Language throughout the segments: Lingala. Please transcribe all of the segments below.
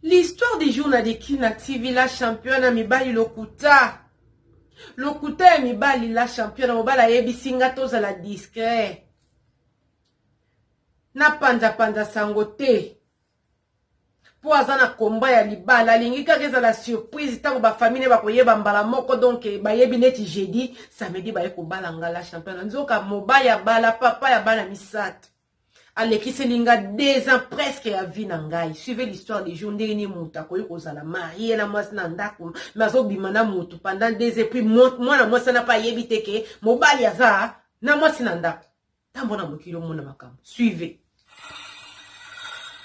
L'histoire du jour na leki na TV la champion na mibali lokuta. Lokuta ya mibali la champion na mobali ayebisi nga tozala discret. Na panza panza sango te. Po aza na komba ya libala alingi kaka ezala surprise ntango bafamile bakoyeba mbala moko donk bayebi neti jeudi samedi baye kobala nga la champion nzoka mobali abala papa ya bana misato alekiseli nga deux ans presque ya vie na ngai suivez l'histoire des jours ndenge nini moto akoki kozala marie na mwasi na ndako me azobima na moto pendant deux ans puis mwana mwasi wana mpe ayebi te ke mobali aza na mwasi na ndako ntango na mokili omona makambo suivez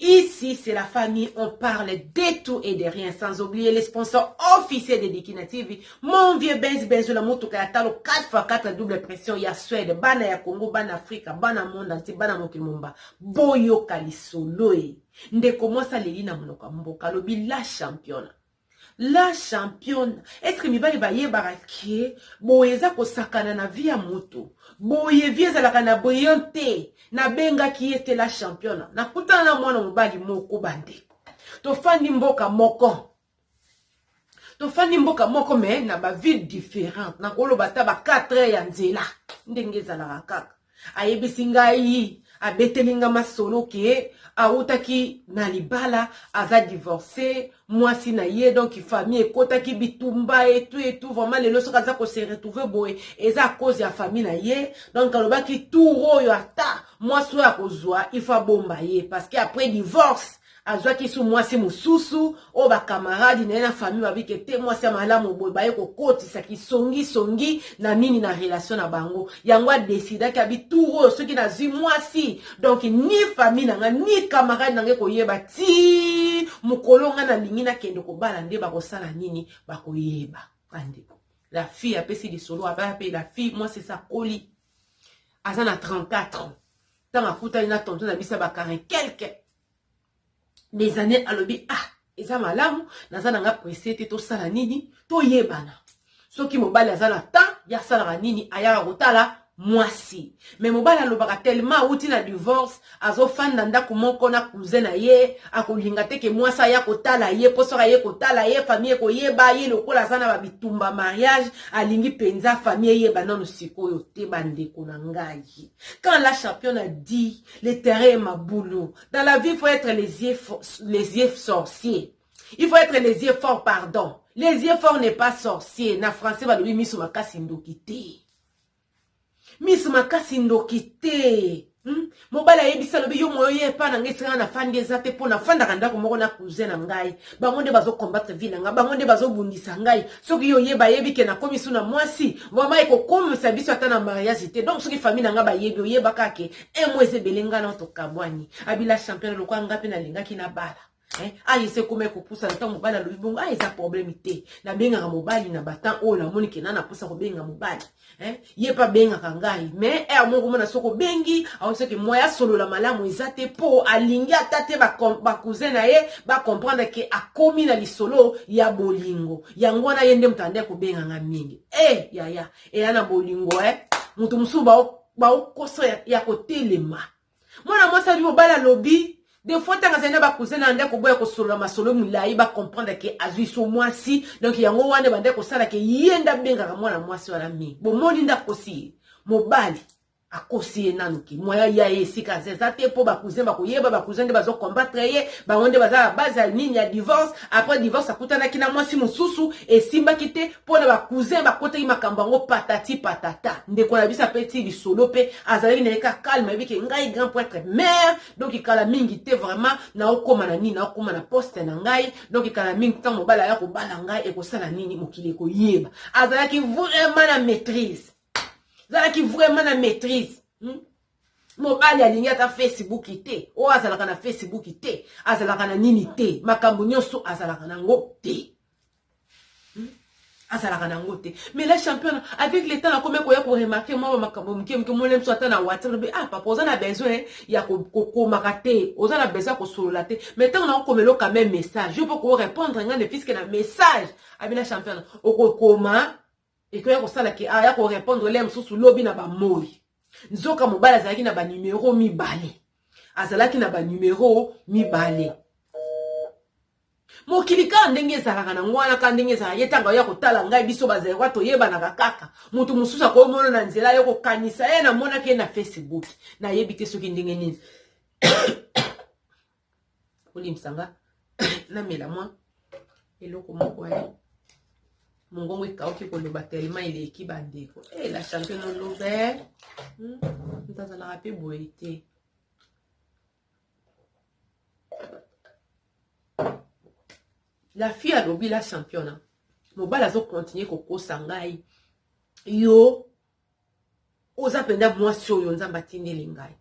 Ici c'est la famille on parle de tout et de rien sans oublier les sponsors officiels de Dikina TV mon vieux Benz Benzo na motuka ya talo 4x4 double pression ya Suède bana ya Congo bana Afrika bana monde entier bana mokili momba boyoka lisolo e ndeko mwasi aleli na monoko ya mboka alobi la championa La championa est ce que mibali bayebaka ke boye eza kosakana na vie ya moto boye vie ezalaka na brillant te nabengaki ye te la championa nakutana na mwana mobali moko bandeko tofandi mboka moko tofandi mboka moko me na baville différente nakoloba ata ba 4 heures ya nzela ndenge ezalaka kaka Ayebisi ngai abeteli nga masolo ke awutaki na libala aza divorce mwasi na ye donc famille ekotaki bitumba etu etu vraiment lelo soki aza ko se retrouver boye eza à cause ya famille na ye donc alobaki tour oyo ata mwasi oyo akozwa il faut abomba ye parce que après divorce Azwaki su mwasi mosusu oyo bakamaradi na ye na famille babi ke te mwasi ya malamu boye baye kokotisa kisongisongi na nini na relation na bango yango adesidaki abi tour oyo soki nazwi mwasi donc ni famille na ngai ni kamaradi na ngai koyeba ti mokolo ngai nalingi nakende kobala nde bakosala nini bakoyeba bandeko la fille apesi lisolo abaya mpe la fille mwasi esi akoli aza na 34 ans ntango akutani na tonto na biso ya bakarne quelque mes années alobi ah eza malamu naza na nga presse te tosala nini toyebana soki mobali aza na temps ya asalaka nini ayaka kotala mwasi me mobali alobaka telema awuti na divorce azofanda ndako moko na cousin na ye akolinga te ke mwasi aya kotala ye mpo soki aye kotala ye famille ekoyeba ye lokola aza na babitumba mariage alingi mpenza famille eyeba nano sikoyo te bandeko na ngai quand la champion a dit Le terrain est maboulou. Dans la vie, il faut être les yeux, les yeux sorciers. Il faut être les yeux forts, pardon. Les yeux forts n'est pas sorcier. Na français, balobi misu makasi ndoki te. Misu makasi ndoki te. Hmm? mobali ayebisi alobi yo moyo ye epa na ngai esika na fandi eza te mpo nafandaka ndako moko na cousin na ngai bango nde bazo combattre vie na nga bango nde bazobundisa ngai soki yo ye bayebi ke nakomi su na mwasi vraimen ekokomisa biso ata na mariage te donc soki famille na nga bayebi oyeba kaka ke un mois eza ebele ngai nao tokabwani abila champion lokola ngai mpe nalingaki na bala eh, aye se ekoma ekopusa na ntango mobali alobi bongo aye eza probleme te nabengaka mobali na batan oyo namoni ke na naposa kobenga mobali Eh, ye mpe abengaka ngai me heure eh, moko mona soki obengi aoseke moya asolola malamu eza te mpo alingi ata te bacousin na ye bacomprendre ke akomi na lisolo ya bolingo yango wana ye nde moto ande kobenga ngai mingi e eh, yaya eya na bolingo e eh. moto mosusu baokosa ya kotelema mwana mwasi azwi mobali alobi de fois ntango azali na bakousin na ndako boya kosolola masolo milai bacomprendre ke azwi so mwasi donk yango wana ebandaki kosala ke ye nde abengaka mwana mwasi wana mingi bomoni nde akosi ye mobali akosi ye nanu ki moya ya ye esika aza eza te mpo bakousin bakoyeba bakousin nde bazokombattre ye bango nde baza na base ya nini ya divorce après divorce akutanaki na mwasi mosusu esimbaki te mpo na bacousin bakotaki makambo yango patati patata ndeko na biso apeti lisolo mpe azalaki na ye ka calme ayebi ke ngai grand prêtre mare donc kala mingi te vraiment naokóma na nini naokóma na poste na ngai donc kala mingi ntango mobali aya kobala ngai ekosala nini mokili ekoyeba azalaki vraiment na maîtrise azalaki vraiment na maîtrise hmm? mobali alingi ata facebook te oyo azalaka na facebook te azalaka na nini te makambo nyonso azalaka na yango te azalaka na yango te mais la champion avec le temps nakomi koya koremarke mwa bamakambo moke moke molemso ata na watrbe ah papa oza na besoin ya kokomaka te oza na besoin ya kosolola te mais ntango nakokoma eloka meme message yo mpo korepondre ngai ne puiske na message abi la champion okokoma Ekoya kosala ke aya ko repondre lere mosusu lobi na bamoyi. Nzoka mobali azalaki na banimero mibale. Azalaki na banimero mibale. mokili kaka ndenge ezalaka na ngwana kaka ndenge ezalaka ye ntango ya kotala ngai biso bazairwa toyebanaka kaka moto mosusu akomona na nzela yo kokanisa ye namonaki ye na facebook nayebi te soki ndenge nini bolimbisa nga namela mwa eloko moko ya mongongo ekauki koloba telema eleki bandeko e eh, la champion olobe hmm, moto azalaka mpe boye te la fille alobi la championa mobali azokontinue kokosa ngai yo Oza penza mwasi oyo nzambe atindeli ngai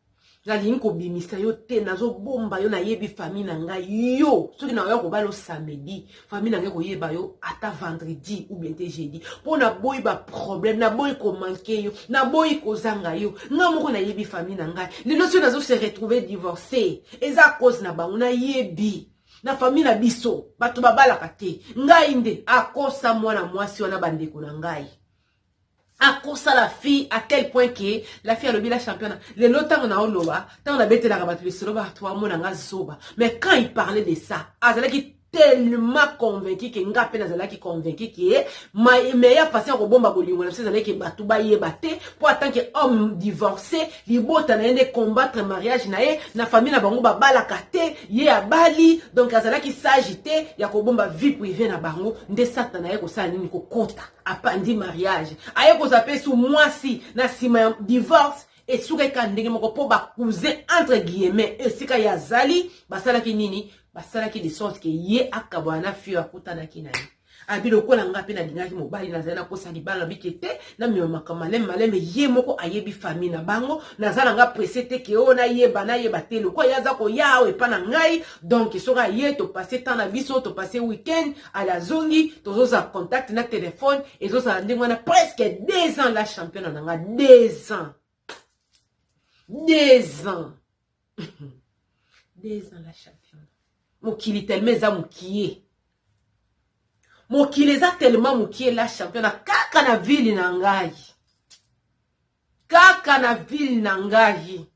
nalingi kobimisa yo te nazobomba yo nayebi famille na ngai yo soki naoya kobala o samedi famille na ngai koyeba yo ata vendredi ou bien te jeudi mpo naboyi baproblème naboyi komanke yo naboyi kozanga yo ngai moko nayebi famille na ngai lelo soki nazo se retrouve divorce eza cause na bango nayebi na famille na biso bato babalaka te ngai nde akosa mwana mwasi wana bandeko na ngai akosa la fille à tel point que la fille alobi la championna lelo ntango na oloba ntango nabetelaka bato lisolo bato bamona nga zoba mais quand il parlait de ça azalaki tellement convaincu ke nga mpe nazalaki convaincu ke meilleure façon ya kobomba bolingo na biso ezalaki ke bato bayeba te mpo atant ke homme divorcé libota na ye nde combattre mariage na ye na famille na bango babalaka te ye abali donc azalaki sage te ya kobomba vie privé na bango nde satana na ye kosala nini kokota apanzi mariage aye kozwa mpe su mwasi na nsima ya divorce esukaki kaka ndenge moko mpo bacousin entre guillemets esika ye azali basalaki nini basalaki de sorte ke ye akabwana na fio akutanaki na ye abi lokola nga mpe nalingaki mobali nazali nakosa libala bike te namema makambo maleme maleme ye moko ayebi famille na bango naza na nga presse te ke oyo nayeba nayeba te lokola ye aza koya awa epa na ngai donc soki aye topase temps na biso topase week-end ale azongi tozozala contact na telefone ezozala ndenge wana presque deux ans la championa na nga deux ans deux ans deux ans la championa mokili telema eza mokie mokili eza telema mokie la championa kaka na ville na ngai kaka na ville na ngai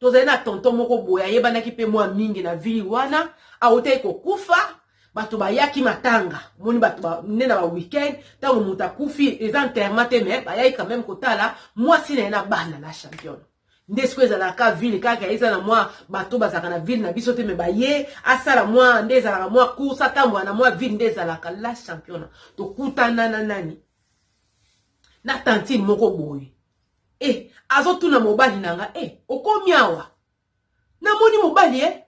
Tozali na tonton moko boye ayebanaki mpe mwa mingi na ville wana, awutaki kokufa bato bayaki matanga moni bato ba, nde na ba weekend ntango moto akufi eza enterrement te mais bayaki quand même kotala mwasi na ye na bana la championne nde sikoyo ezalaka ka ville kaka eza na mwa bato bazalaka na ville na biso te me baye asala mwa nde ezalaka mwa course atambola na mwa ville nde ezalaka la championa tokutana na nani na tantine moko boye Eh, azotuna mobali na nga eh, okomi awa namoni mobali eh,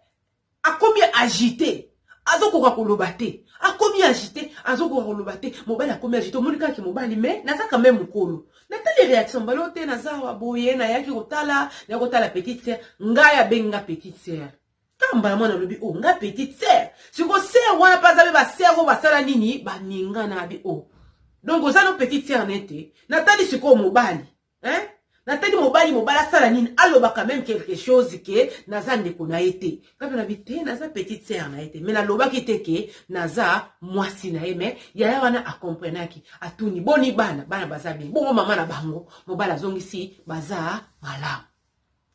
akomi agite azokoka koloba te akomi agite azokoka koloba te mobali akomi agite omoni kaka mobali me naza quand même mokolo natali réaction mbalo te naza awa boye nayaki kotala nayaki kotala petite sœur ngai abengi nga petite sœur Tala mbala mwana alobi oh nga petite sœur. Siko sœur wana pe aza pe ba sœur oyo basala nini baninga na bi oh. Donc oza no petite sœur na ye te. Natali sikoyo mobali. Hein? natali mobali mobali asala nini alobaka meme quelque chose ke naza ndeko na ye te kaka na bite naza petite sere na ye te mai nalobaki te ke naza mwasi na ye mai yaya wana akomprenaki atuni boni bana bana baza bien bongo mama na bango mobali azongisi baza malamu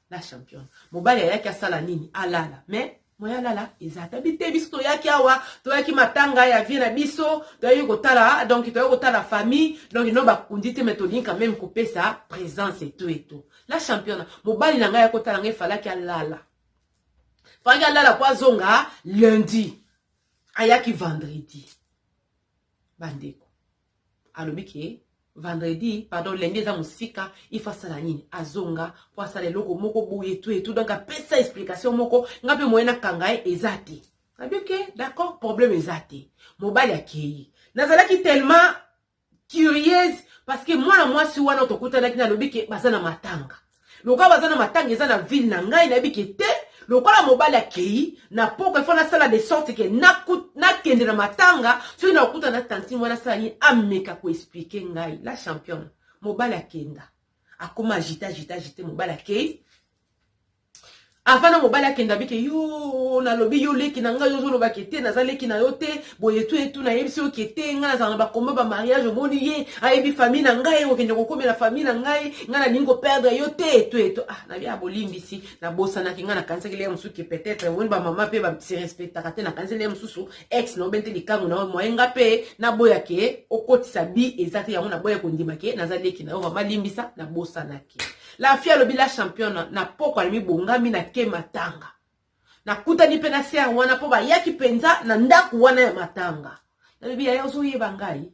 La championne mobali ayaki asala nini alala mais moye alala eza ata bite biso toyaki awa toyaki matanga ya vie na biso toyaki kotala donc toyaki kotala famille donc no bakundi te mais tolingi quand même kopesa présence eto eto la championne mobali na ngai ayaki kotala ngai falaki alala falaki alala po azonga lundi ayaki vendredi bandeko Alobi ke vendredi pardon lundi eza musika il faut asala nini azonga po asala eloko moko boye tu etu donc apesa explication moko nga mpe moyen nakanga ye eza te nabi ke d'accord problème eza te mobali akei nazalaki tellement curieuse parce que mwana mwasi wana tokutanaki nalobi ke baza na matanga lokola baza na matanga eza na ville na ngai nayebi ke te lokola mobali akei na poko efo nasala de sorte ke nakende na matanga soki nakokuta na tantine wana asala nini ameka koexplike ngai la championne mobali akenda akoma agite agite agite mobali akei Avant na mobali akenda abike yo nalobi yo leki na ngai ozoloba ke te naza leki na yo te boye etu etu nayebisi yo ke te ngai nazala na bakomba ba mariage omoni ye ayebi famille na ngai okende kokomela famille na ngai ngai nalingi koperdre yo te etu etu ah na bia bolimbisi nabosanaki ngai nakanisaki leye mosusu ke peut-être omoni bamama mpe basirespectaka te nakanisaki leye mosusu ex na obe nte likangu na yo moye ngai mpe naboya ke okotisa bi eza te yango naboya kondima ke naza leki na yo vraimen limbisa nabosanaki La fille alobi la championne na pokwa na mibongami na ke matanga. Nakutani mpe na sere wana mpo bayaki mpenza na ndako wana ya matanga. Nalobi yaya ozoyeba ngai?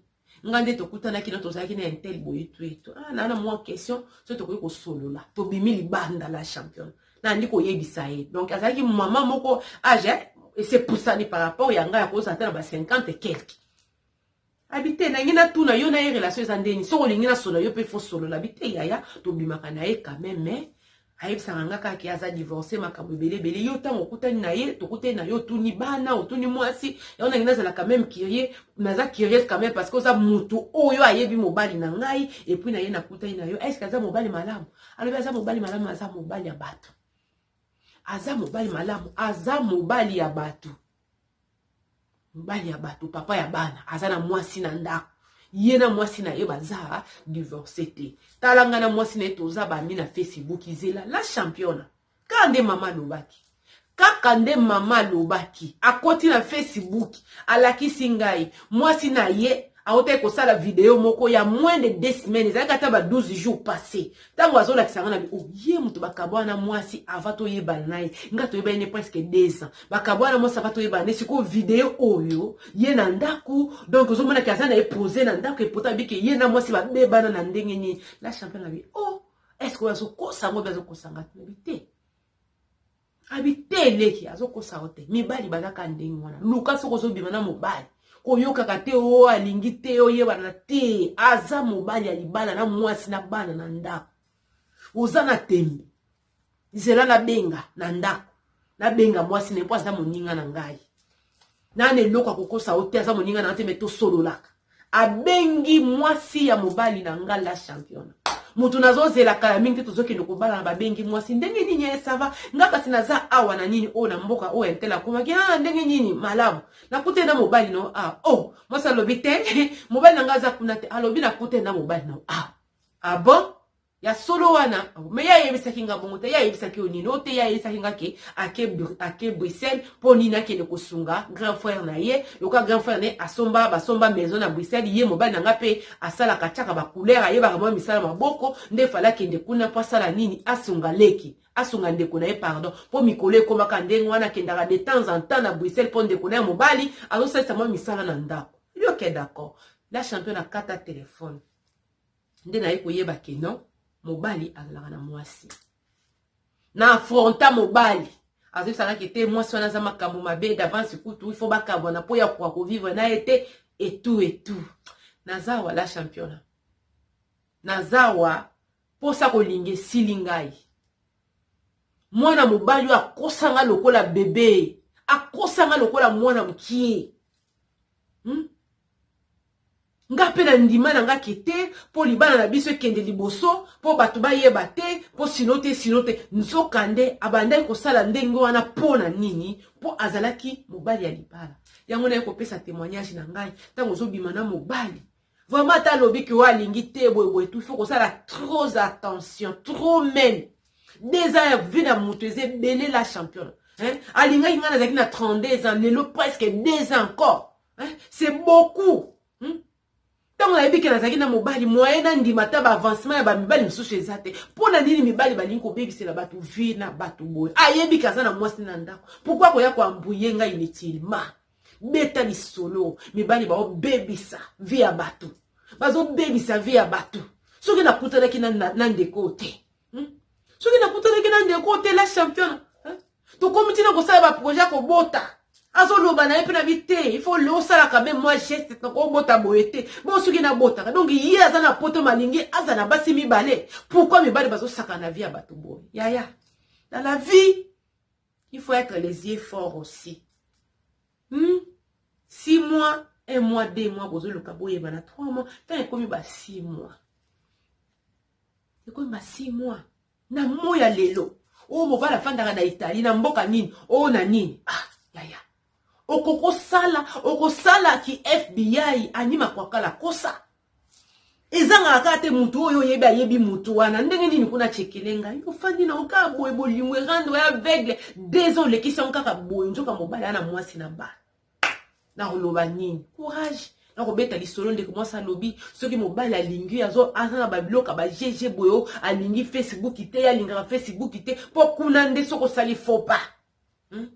Ngai nde tokutanaki na tozalaki na intel boye tuetu. Ah, na na mwa question soki tokoki kosolola. Tobimi libanda la championne. Nandi koyebisa ye. Donc azalaki mama moko age ese pusani par rapport ya ngai akozala ata na ba 50 et quelque. abi te nangi natuna yo na ye relation eza ndeni soki olingi nasolola yo mpe fosolola abi te yaya tobimaka na ye kame me ayebisaka nga kaka ke aza divorce makambo ebele ebele yo ntango okutani na ye tokutani na ye otuni bana otuni mwasi yango nangi nazalaka meme curie naza curieuse quand meme parce que oza motu oyo ayebi mobali na ngai epuis na ye nakutani na yo estce aza mobali malamu alobi aza mobali malamu aza mobali ya bato aza mobali malamu aza mobali ya bato mobali ya bato papa ya bana aza na mwasi na ndako ye na mwasi na ye baza divorce te tala ngai na mwasi na ye toza bami na facebook zela la championa kaka nde mama alobaki kaka nde mama alobaki akoti na facebook alakisi ngai mwasi na ye Awutaki kosala video moko ya moins de deux semaines, ezalaki ata ba 12 jours passe. Tango azolakisa nga na bi, oh ye moto bakabwana na mwasi avant toyebana na ye. Nga toyebani ne presque deux ans. Bakabwana na mwasi avant toyebana ne sikoyo video oyo ye na ndaku donc ozomona ke aza na ye pose na ndaku et pourtant abi ke ye na mwasi babebana na ndenge nini. La champion na bi, oh est-ce que oyo azokosa ngo obi azokosa nga? Na bi te. abi te leki azokosa yo te mibali baza kaka ndenge wana luka soki ozobima na mobali koyokaka te o oh, alingi te oyebana te aza mobali ya libala na mwasi na bana na ndako oza na tembe zela nabenga na ndako nabenga mwasi na ye mpo aza moninga na ngai nana eloko akokosa yo te aza moninga na yo te me tosololaka abengi mwasi ya mobali na nga la championa moto nazozela kala mingi te tozokende kobalana babengi mwasi ndenge nini ye eh, sava nga kasi naza awa na nini oyo oh, na mboka oyo oh, entele akomaki a ah, ndenge nini malamu nakute na mobali na yo a ah, o oh, mwasi alobi te mobali na nga aza kuna te alobi nakute na mobali na yo a ah, abon ah, ya solo wana me ye ayebisaki nga bongo te ye ayebisaki yo nini oyo te ye ayebisaki nga ke ake, ake bruxelles mpo nini akende kosunga grand frère na ye lokola grand frère na ye asomba basomba maison na bruxelles ye mobali na nga mpe asalaka atiaka bacouleur ayebaka mwa misala maboko nde fale akende kuna mpo asala nini asunga leki asunga ndeko na ye pardon mpo mikolo ekomaka ndenge wana akendaka de temps en temps na bruxelles mpo ndeko na ye mobali azosalisa mwa misala na ndako yoke d'accord la champion akata telefone nde naye koyeba ke non mobali azalaka na mwasi na afronta mobali azoyebisaka ke te mwasi wana aza makambo mabe d'avance kutu il faut bakabwana mpo ya koka kovivre na ye te etout etout naza awa la championa naza awa mposa kolinga esili ngai mwana mobali oyo akosanga lokola bebe akosanga lokola mwana mokie hmm? Nga mpe na ndima na nga ke te mpo libala na biso ekende liboso mpo bato bayeba te mpo sino te sino te nzoka nde abandaki kosala ndenge wana mpo na nini mpo azalaki mobali ya libala yango naye kopesa temoignage na ngai ntango ozobima na mobali vraiment ata alobi ke oyo alingi te boyeboye tu faut kosala trop attention trop meme des ans ya vie na moto eza ebele la champion alingaki ngai nazalaki na 32 ans lelo presque deux ans encore c'est beaucoup hmm? ntango nayebi ke nazalaki na mobali moye nandima ata baavancement ya bamibali mosusu eza te mpo na nini mibali balingi kobebisela bato vie na bato boye ayebi ke aza na mwasi na ndako pourkui akoya koambuye ngai inutilement beta lisolo mibali baobebisa vie ya bato bazobebisa vie ya bato soki nakutanaki na, na, na ndeko te hmm? soki nakutanaki na ndeko otela champion hein? tokomi ntina kosala baprojet ya kobota azoloba na ye mpe na bi te il faut leo osalaka meme mwa geste nakobota boye te bo soki nabotaka donc ye aza na poto malingi aza na basi mibale pourkui mibale bazosaka na vie ya bato boye yaya na la vie il faut être les yeux fort aussi hmm? six mois un mois deux mois bozoluka boyebana trois mois ntango ekomi ba six mois Ekomi ba six mois na moi ya lelo oyo mobali afandaka na Italie na mboka nini oyo na nini ah yaya okokosala okosala ki FBI ani makwakala kosa ezangaka kaka te motu oyo oyebi ayebi motu wana ndenge nini kuna cekele ngai ofandi na okaa boye bolingo erando ya aveugle deux ans olekisi yango kaka boye nzoka mobali ana mwasi na bana nakoloba nini courage nakobeta lisolo ndeko mwasi alobi soki mobali alingi azo aza na babiloka ba gg boyo alingi facebook te ye alingaka facebook te mpo kuna nde soki osali fopa hmm?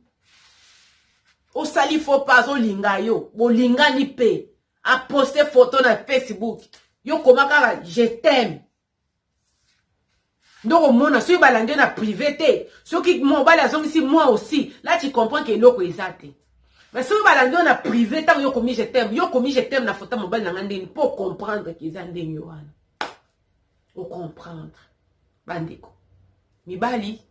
osali fopa azolinga yo bolingani mpe aposte foto na facebook yo koma kaka je t'aime ndoko omona soki balandi na privé te soki mobali azongisi moi aussi là tu comprends que eloko eza te mais soki balandi yo na privé ntango yo komi je t'aime yo komi je t'aime na fota mobali na ngai ndeni mpo ocomprendre ke eza ndenge wana ocomprendre bandeko Mibali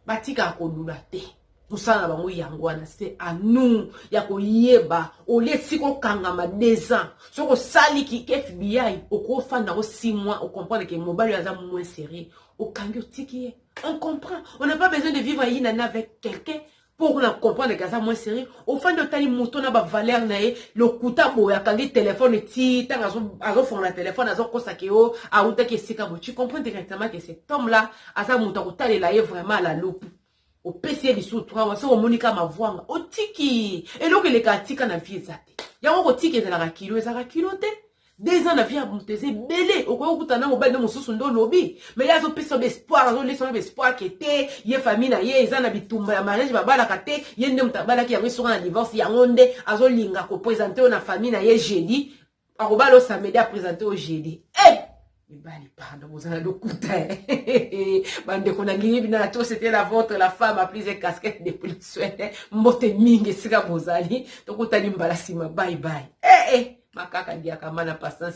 batika kolula te. mosala na bango yango wana se anu ya koyeba olie esika okangama deux ans soki osali kike fbi okofanda yango six mois ocomprendre ke mobali oyo aza moins sérieux okangi otiki ye on comprend on n'a pas besoin de vivre inana avec quelqu'un Pour na comprendre que aza moins sérieux, ofandi otali moto na ba valeur na ye, lokuta boye akangi téléphone ti tanga azo azo fongola téléphone azo kosa ke o awutaki esika boye. Tu comprends directement que cet homme là aza moto akotalela ye vraiment à la loupe. opesi ye lisusu trawa soki omoni kaka mavwanga otiki eloko eleka atika na vie eza te yango kotika ezalaka kilo ezalaka kilo te deux ans na vie ya moto eza ebele okoki kokuta na mobali no mosusu nde olobi me ye azopesa yo baespoir azolesa yo baespoir ke te ye famille na ye eza na bitumba ya mariage babalaka te ye nde moto abalaki yango esoka na divorce yango nde azolinga kopresente yo na famille na ye jeudi akobala yo samedi apresente yo jeudi e eh! mibali pardon boza na lokuta eh. bandeko na lingi bina to c'était la vôtre la femme a prise casquette de poliswene eh. mbote mingi esika bozali tokutani mbala nsima bye bye eh, eh. makaka ndiaka mana patience